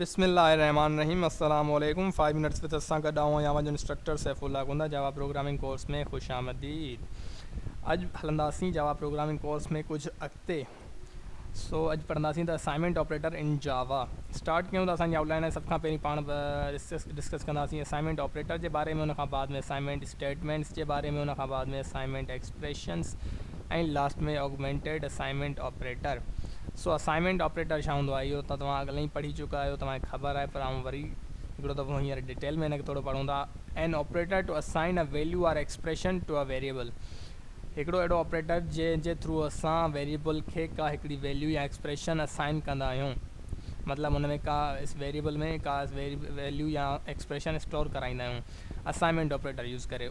بسم الله الرحمان الرحيم السلام عليڪم فائيو منٽس وٿ سان گڏ آئون آهيان اوهانجو instructor Saif Ullah Gonda Java programming course ۾ خوش آمديد اڄ هلنداسين جاوا پروگرامنگ ڪورس ۾ ڪجهه اڳتي سو اڄ پڙهنداسين ته assignment operator in Java start ڪيون ته اسانجي آؤٽ لائن آهي سڀ کان پهرين پاڻ ڊسڪس ڪنداسين اسائنمينٽ آپريٽر جي باري ۾ ان کان بعد ۾ اسائنمينٽ اسٽيٽمينٽس جي باري ۾ ان کان بعد ۾ assignment expressions ۽ last ۾ augmented assignment operator سو اسائنمينٽ آپريٽر ڇا هوندو آهي اهو ته توهان اڳ لئي پڙهي چڪا آهيو توهان کي خبر آهي پر آئون وري هڪڙو دفعو هينئر ڊيٽيل ۾ هن کي ٿورو پڙهون ٿا an operator to assign a value or expression to a variable هڪڙو اهڙو آپريٽر جنهن جي ٿرو اسان ويريبل کي ڪا هڪڙي ويليو يا ايڪسپريشن اسائن ڪندا آهيون مطلب ان ۾ ڪا ويريبل ۾ ڪا ويليو يا ايڪسپريشن اسٽور ڪرائيندا آهيون اسائنمينٽ آپريٽر يوز ڪري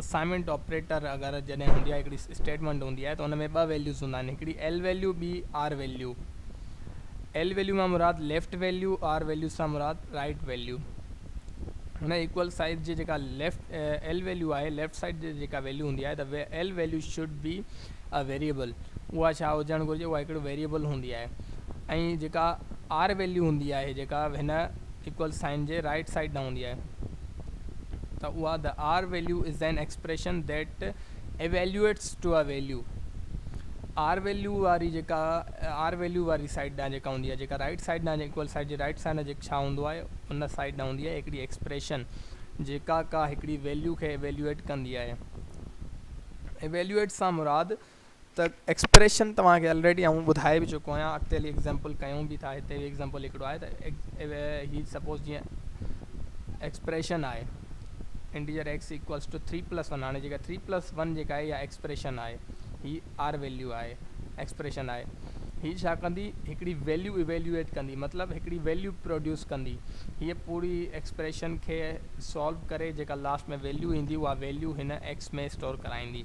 اسائنمينٽ آپريٽر اگر جڏهن هوندي آهي هڪڙي اسٽيٽمينٽ هوندي آهي ته ان ۾ ٻه ويليوز هوندا آهن هڪڙي ايل ويليو ٻي آر ويليو ايل ويليو مان مراد ليفٽ ويليو آر ويليو سان مراد رائٽ ويليو هن ايڪول سائيز جي جيڪا ليفٽ ايل ويليو آهي ليفٽ سائيڊ جي جيڪا ويليو هوندي آهي ته L value should be a variable اها ڇا هجڻ گهرجي اها هڪڙي ويريبل هوندي آهي ۽ جيڪا آر ويليو هوندي آهي جيڪا هن ايڪول سائين جي رائٽ سائيڊ ڏانهن هوندي آهي ته اها The R Value is an Expression that Evaluates to a Value R Value واري جيڪا R Value واري سائيڊ ڏانهن جيڪا هوندي آهي جيڪا رائيٽ سائيڊ ڏانهن ايڪوئل سائيڊ جي رائيٽ سائيڊ ڏانهن جيڪ ڇا هوندو آهي ان سائيڊ ڏانهن هوندي آهي هڪڙي ايڪسپريشن جيڪا ڪا هڪڙي ويليو کي Evaluate ڪندي آهي Evaluate سان مراد ته ايڪسپريشن توهان کي الريڊي آئون ٻڌائي به چڪو آهيان اڳتي هلي ايڪزامپل ڪيون به ٿا هتي به ايڪزامپل هڪڙو آهي ته هي سپوز جيئن ايڪسپريشن آهي integer x equals to three plus one هاڻي جيڪا ٿري پلس ون جيڪا آهي اها ايڪسپريشن آهي هي آر ويليو آهي ايڪسپريشن آهي هي ڇا ڪندي هڪڙي ويليو ايويليويٽ ڪندي مطلب هڪڙي ويليو پروڊيوس ڪندي هيء پوري ايڪسپريشن کي سالو ڪري جيڪا لاسٽ ۾ ويليو ايندي اها ويليو هن ايڪس ۾ اسٽور ڪرائيندي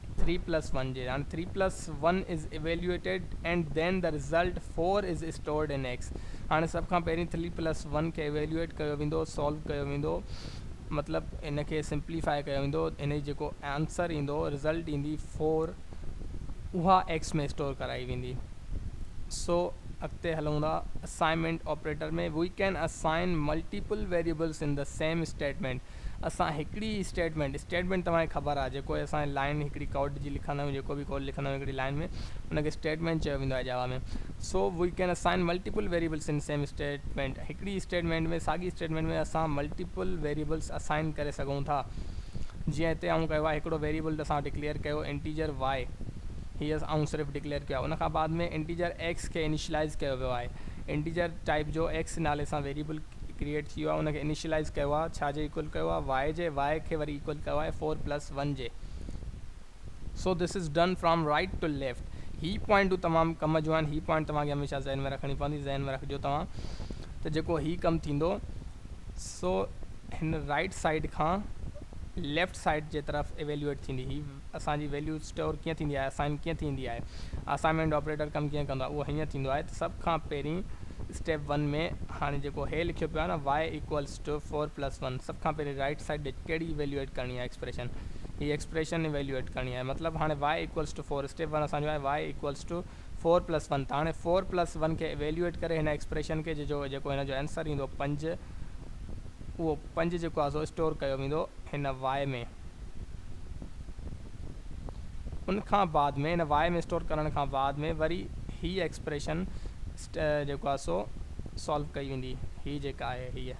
ٿري پلس ون جي هاڻي three plus one is evaluated and then the result four is stored in x هاڻي سڀ کان پهرين ٿري پلس ون کي ايويليوئيٽ ڪيو ويندو سالو ڪيو ويندو مطلب ان کي سمپليفائي ڪيو ويندو ان جي جيڪو آنسر ايندو رزلٽ ايندي فور اها ايڪس ۾ اسٽور ڪرائي ويندي سو اڳتي هلون ٿا assignment operator ۾ we can assign multiple variables in the same statement اسان هڪڙي اسٽيٽمينٽ اسٽيٽمينٽ توهان کي خبر آهي جيڪو اسان لائين هڪڙي ڪوڊ جي لکندا آهيون جيڪو به ڪوڊ لکندا آهيون هڪڙي لائين ۾ ان کي اسٽيٽمينٽ چيو ويندو آهي Java ۾ so we can assign multiple variables in same statement هڪڙي اسٽيٽمينٽ ۾ ساڳي اسٽيٽمينٽ ۾ اسان ملٽيپل ويريبلس اسائين ڪري سگهون ٿا جيئن هتي آئون ڪيو آهي هڪڙو ويريبل اسان ڊڪليئر ڪيو انٽيجر وائي هي آئون صرف ڊڪليئر ڪيو آهي ان کان بعد ۾ انٽيجر ايڪس کي انيشلائيز ڪيو ويو آهي انٽيجر ٽائيپ جو ايڪس نالي سان ويريبل ڪريئيٽ ٿي ويو آهي ان کي انيشلائيز ڪيو آهي ڇا جي ايڪول ڪيو آهي وائي جي وائي کي وري ايڪول ڪيو آهي فور پلس ون جي so this is done from right to left هي پوائنٽون تمام ڪم جون آهن هي پوائنٽ توهان کي هميشه ذهن ۾ رکڻي پوندي ذهن ۾ رکجو توهان ته جيڪو هي ڪم ٿيندو سو هن رائيٽ سائيڊ کان ليفٽ سائيڊ جي طرف ايويلوئيٽ ٿيندي هي اسان جي ويليو اسٽور ڪيئن ٿيندي آهي اسائن ڪيئن ٿيندي آهي اسائنمينٽ آپريٽر ڪم ڪيئن ڪندو آهي اهو هيئن ٿيندو آهي ته سڀ کان پهرين اسٽيپ ون ۾ هاڻي جيڪو هي لکيو پيو آهي نه y equals to four plus one سڀ کان پهرين رائيٽ سائيڊ ڏي ڪهڙي ايويليوئيٽ ڪرڻي آهي ايڪسپريشن هي ايڪسپريشن ايويليوئيٽ ڪرڻي آهي مطلب هاڻي y equals to four step one اسان جو آهي y equals to four plus one ته هاڻي فور پلس ون کي ايويليوئيٽ ڪري هن ايڪسپريشن کي جي جو جيڪو هن جو اينسر ايندو پنج اهو پنج جيڪو آهي سو اسٽور ڪيو ويندو هن y ۾ ان کان بعد ۾ ان واء ۾ اسٽور ڪرڻ کان بعد ۾ وري هيء ايڪسپريشن جيڪو آهي سو سالو ڪئي ويندي هي جيڪا آهي هيء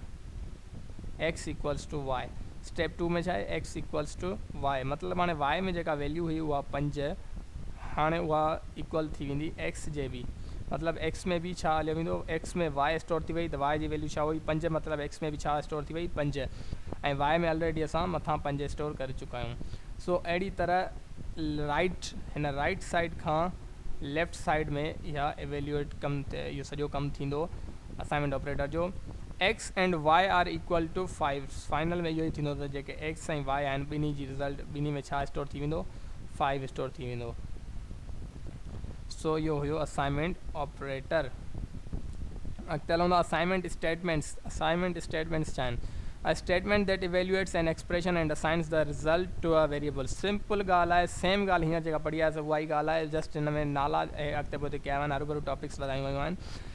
x equals to y step two ۾ ڇا آهي ايڪس ايڪوئلس ٽو واء مطلب هاڻي واء ۾ جيڪا ويليو هئي اها پنج هاڻي اها ايڪوئل ٿي ويندي ايڪس جي به مطلب ايڪس ۾ به ڇا هليو ويندو ايڪس ۾ واء اسٽور ٿي وئي ته واء جي ويليو ڇا هئي پنج مطلب ايڪس ۾ به ڇا اسٽور ٿي وئي پنج ۽ واء ۾ الريڊي اسان مٿان پنج اسٽور ڪري چڪا آهيون سو اهڙي طرح رائيٽ هن رائيٽ سائيڊ کان ليفٽ سائيڊ ۾ اها ايويليوئيٽ ڪم اهو سڄو ڪم ٿيندو اسائنمينٽ آپريٽر جو x and y are equal to five final ۾ اهو ئي ٿيندو ته جيڪي ايڪس ۽ وائي آهن ٻنهي جي رزلٽ ٻنهي ۾ ڇا اسٽور ٿي ويندو فائيو اسٽور ٿي ويندو. سو اهو هيو اسائنمينٽ آپريٽر. اڳتي هلون ٿا اسائنمينٽ اسٽيٽمينٽس. اسائنمينٽ اسٽيٽمينٽس ڇا آهن؟ A statement that evaluates an expression and assigns the result to a variable simple ڳالهه آهي سيم ڳالهه هينئر جيڪا پڙهي آهي سو اها ئي ڳالهه آهي جسٽ هن ۾ نالا اڳتي پوئتي ڪيا ويا آهن هروڀرو ٽاپڪس وڌايون ويون آهن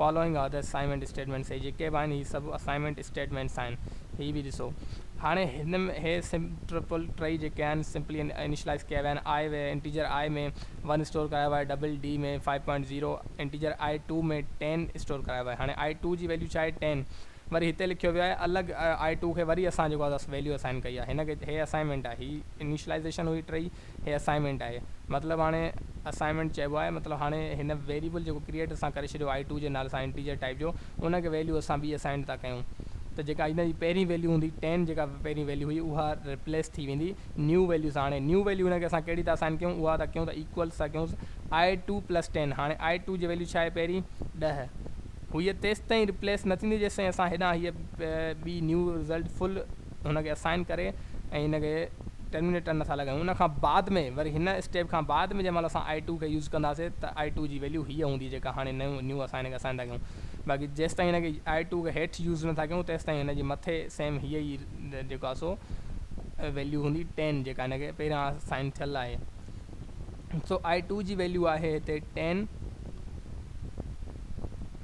Following are the assignment statements هي جيڪي به آهن هي سڀ اسائنمينٽ اسٽيٽمينٽس آهن هي به ڏسو هاڻي هن م هي سم ٽرپل ٽئي جيڪي آهن سمپلي انيشلائيز ڪيا ويا آهن آء ويا انٽيجر آء ۾ ون اسٽور ڪرايو آهي double d ۾ five point zero integer i two ۾ ten store ڪرايو آهي هاڻي آء ٽو جي ويليو ڇا آهي ٽين وري هتي لکيو ويو آهي الڳ آء ٽو کي وري اسان جيڪو آهي ويليو اسائن ڪئي آهي هن کي هي اسائنمينٽ آهي هي انيشلائيزيشن هئي ٽئي هي اسائنمينٽ آهي مطلب هاڻي اسائنمينٽ چئبو آهي مطلب هاڻي هن ويريبل جيڪو ڪريئيٽ اسان ڪري ڇڏيو آهي ٽو جي نالي سان انٽيجر ٽائيپ جو ان کي ويليو اسان ٻي اسائنڊ ٿا ڪيون ته جيڪا هن جي پهرين ويليو هوندي ٽين جيڪا پهرين ويليو هئي اها ريپليس ٿي ويندي نيو ويليو سان هاڻي نيو ويليو هن کي اسان ڪهڙي ٿا اسائن ڪيون اها ٿا ڪيون ته ايڪوئلس ٿا ڪيونس آء ٽو پلس ٽين هاڻي آء ٽو جي ويليو ڇا آهي پهرين ڏهه هئي تيستائين ريپليس نه ٿيندي جيستائين اسان هيڏانهن هيء ٻي نيو رزلٽ فل هن کي اسائن ڪري ۽ هن کي ٽرمينيٽر نه ٿا لڳايون ان کان بعد ۾ وري هن اسٽيپ کان بعد ۾ جنهن مهل اسان آئي ٽو کي يوز ڪنداسي ته آئي ٽو جي ويليو هيء هوندي جيڪا هاڻي نيون نيو اسان هن کي اسائن ٿا ڪيون باقي جيستائين هن کي آئي ٽو کي هيٺ يوز نه ٿا ڪيون تيستائين هن جي مٿي سيم هيء ئي جيڪو آهي سو ويليو هوندي ٽين جيڪا هن کي پهريان اسائن ٿيل آهي سو آئي ٽو جي ويليو آهي هتي ٽين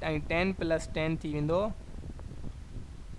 ۽ ٽين پلس ٽين ٿي ويندو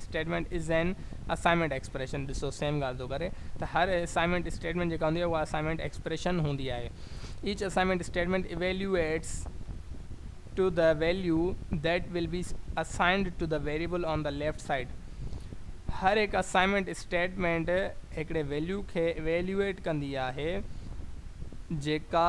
statement is an assignment expression ڏسو سيم ڳالهه ٿو ڪري ته هر اسائنمينٽ اسٽيٽمينٽ جيڪا هوندي آهي اها اسائنمينٽ ايڪسپريشن هوندي آهي each assignment statement evaluates to the value that will be assigned to the variable on the left side هر هڪ اسائنمينٽ اسٽيٽمينٽ هڪڙي ويليو کي ايويليوئيٽ ڪندي آهي جيڪا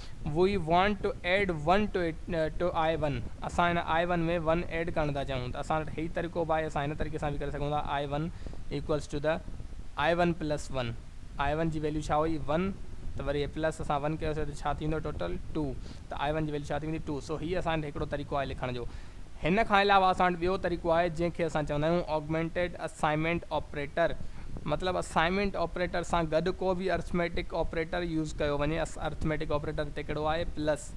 we want to add one to it to i one اسان هن آء ون ۾ ون ايڊ ڪرڻ ٿا چاهيون ته اسان وٽ هي طريقو به آهي اسان هن طريقي سان به ڪري سگهون ٿا آء ون ايڪوئلس ٽو ته i one plus one i one جي ويليو ڇا هئي ون ته وري هي پلس اسان ون ڪيوسي ته ڇا ٿيندو ٽوٽل ٽو ته آء ون جي ويليو ڇا ٿي ويندي ٽو سو هي اسان وٽ هڪڙو طريقو آهي لکڻ جو هن کان علاوه اسان وٽ ٻيو طريقو آهي جنهن کي اسان چوندا آهيون Augmented Assignment Operator مطلب اسائنمينٽ آپريٽر سان گڏ ڪو به ارٿميٽڪ آپريٽر يوز ڪيو وڃي ارٿميٽڪ آپريٽر هتي ڪهڙو آهي پلس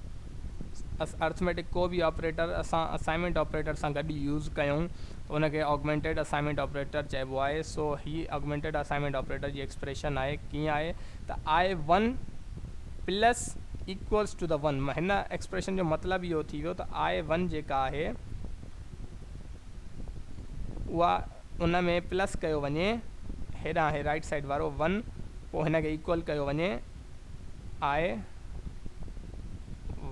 ارٿميٽڪ ڪو به آپريٽر اسان اسائنمينٽ آپريٽر سان گڏ يوز ڪيون ته ان کي Augmented Assignment Operator چئبو آهي سو هي Augmented Assignment Operator جي ايڪسپريشن آهي ڪيئن آهي ته i 1 پلس ايڪوئلس ٽو ته ون هن ايڪسپريشن جو مطلب اهو ٿي ويو ته آء ون جيڪا آهي اها ان ۾ پلس ڪيو وڃي هيڏانهن هي رائيٽ سائيڊ وارو ون پوء هن کي ايڪوئل ڪيو وڃي آء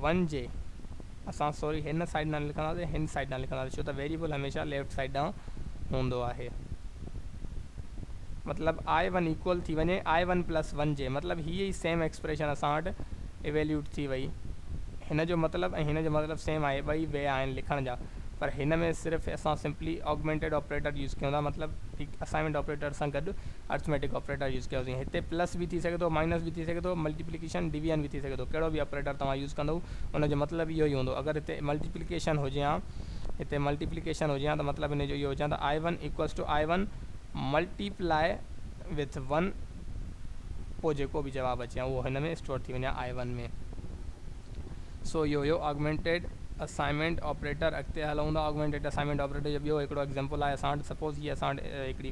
ون جي اسان سوري هن سائيڊ ڏانهن لکنداسين هن سائيڊ ڏانهن لکنداسين ڇو ته ويريبل هميشه ليفٽ سائيڊ ڏانهن هوندو آهي مطلب آء ون ايڪول ٿي وڃي آء ون پلس ون جي مطلب هي ئي سيم ايڪسپريشن اسان وٽ ايويليوٽ ٿي وئي هن جو مطلب ۽ هن جو مطلب سيم آهي ٻئي وي آهن لکڻ جا پر هن ۾ صرف اسان سمپلي آگمينٽيڊ آپريٽر يوز ڪيون ٿا مطلب اسائنمينٽ آپريٽر سان گڏ ارٿميٽڪ آپريٽر يوز ڪيوسين هتي پلس به ٿي سگهي ٿو مائنس به ٿي سگهي ٿو ملٽيپليڪيشن ڊويزن به ٿي سگهي ٿو ڪهڙو به آپريٽر توهان يوز ڪندو ان جو مطلب اهو ئي هوندو اگر هتي ملٽيپليڪيشن هجي ها هتي ملٽيپليڪيشن هجي ها ته مطلب ان جو اهو هجي ها ته آئي one equals to I one multiply with one پوء جيڪو به جواب اچي ها اهو هن ۾ اسٽور ٿي وڃي ها آئي ون ۾ سو اهو هيو آگمينٽيڊ اسائنمينٽ آپريٽر اڳتي هلون ٿا آگمينٽيڊ اسائنمينٽ آپريٽر جو ٻيو هڪڙو ايگزامپل آهي اسان وٽ سپوز هي اسان وٽ هڪڙي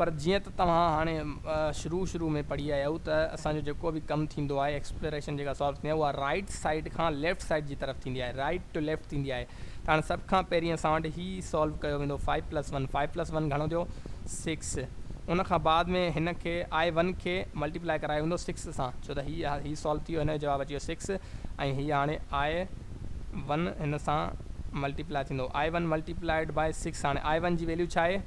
پر جيئن ته توهان هاڻي شروع شروع ۾ پڙهي آيا آهيو ته اسان جو جيڪو به ڪم ٿيندو آهي ايڪسپلوريشن جيڪا سالو ٿيندي آهي اها رائٽ سائيڊ کان ليفٽ سائيڊ جي طرف ٿيندي آهي رائٽ ٽو ليفٽ ٿيندي آهي ته هاڻي سڀ کان پهرين اسان وٽ هي سالو ڪيو ويندو five plus one five plus one گهڻو ٿيو سڪس ان کان بعد ۾ هن کي آء ون کي ملٽيپلائي ڪرايو ويندو سڪس سان ڇو ته هي هي سالو ٿي ويو هن جو جواب اچي ويو سڪس ۽ هي هاڻي آء ون هن سان ملٽيپلائي ٿيندو i one multiplied by six هاڻي آء ون جي ويليو ڇا آهي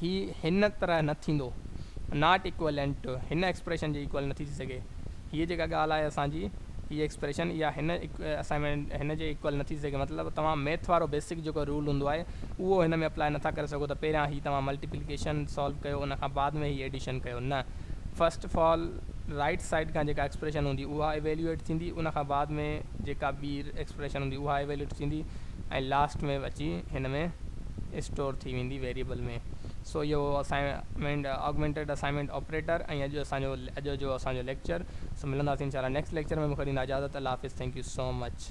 هي هن طرح نه ٿيندو. ناٽ ايڪوئلنٽ هن ايڪسپريشن جي ايڪوئل نه ٿي ٿي سگهي. هيء جيڪا ڳالهه آهي اسان جي، هيء ايڪسپريشن اها هن اسائنمينٽ هن جي ايڪوئل نه ٿي ٿي سگهي. مطلب توهان ميٿ وارو بيسڪ جيڪو رول هوندو آهي، اهو هن ۾ اپلائي نه ٿا ڪري سگهو ته پهريان هي توهان ملٽيپليڪيشن سالو ڪيو ان کان بعد ۾ هي ايڊيشن ڪيو. نه، first of all right side کان جيڪا ايڪسپريشن هوندي اها ايويليوئيٽ ٿيندي، ان کان بعد ۾ جيڪا ٻي ايڪسپريشن هوندي اها ايويليوئيٽ ٿيندي. ۽ لاسٽ ۾ اچي هن ۾ اسٽور ٿي ويندي ويريبل ۾ سو اهو هو اسائنمينٽ آگمينٽيڊ اسائنمينٽ آپريٽر ۽ اڄ اسان جو اڄ جو اسان جو ليڪچر سو ملنداسين انشاء الله نيڪسٽ ليڪچر ۾ مون کي ڏيندا اجازت الله حافظ ٿينڪ يو سو مچ.